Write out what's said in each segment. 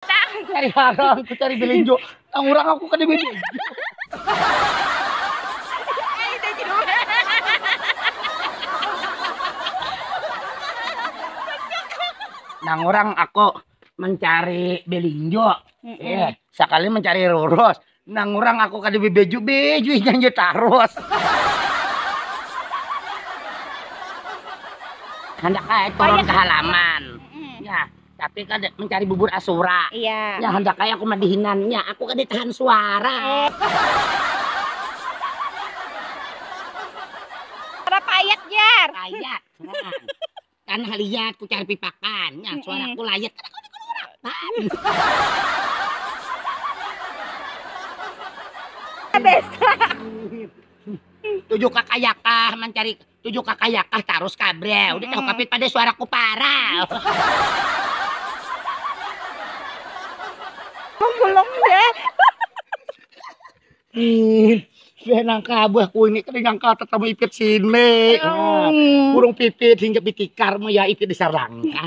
Tang. Cari harang, aku cari belinjo. Tang urang aku kada belinjo. Nang urang aku mencari belinjo. Mm -mm. Eh, sakali mencari rurus. Nang urang aku kada bebeju beju inyanyi tarus. Handak ai turun ke halaman. Ya, tapi kan mencari bubur asura. Iya. Ya handak ai aku madihinan. Ya, aku kada tahan suara. Suara payat jar. Payat. Kan haliat ku cari pipakan, nya suara ku layat kada kawa dikuluarakan. Tuju kakayakah mancari tuju kakayakah tarus kah bre, udah tahu kapit pada suara ku parah. Ih, saya nangka abah ku ini kada nyangka tetamu ipit sini. Nah, burung pipit hinggap di tikar mu ya ipit di sarangka.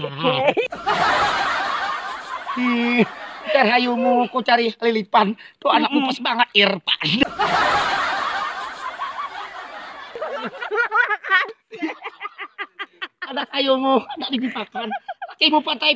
Ih, cari hayumu ku cari lilipan. Tuh anak mupus bangat Irfan. Anak hayumu kada dipipakan. Lakimu pantai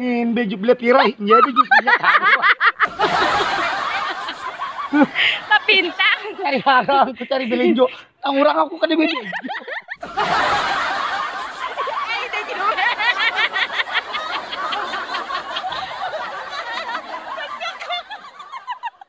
Inde juk beli pira inja itu juk punya Tapintang. Cari harang, aku cari belinjo. Nang urang aku kada beli.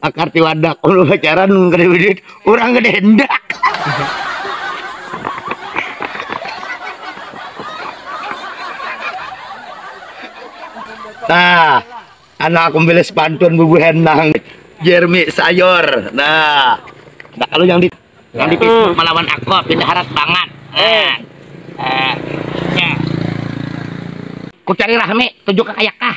akar tiwadak lu pacaran kada duit orang kada hendak nah anak aku pilih sepantun bubuhan nang Jeremy Sayor nah nah kalau yang di yang di Facebook melawan aku pindah harat banget eh eh ya ku cari rahmi tujuh kakayak kah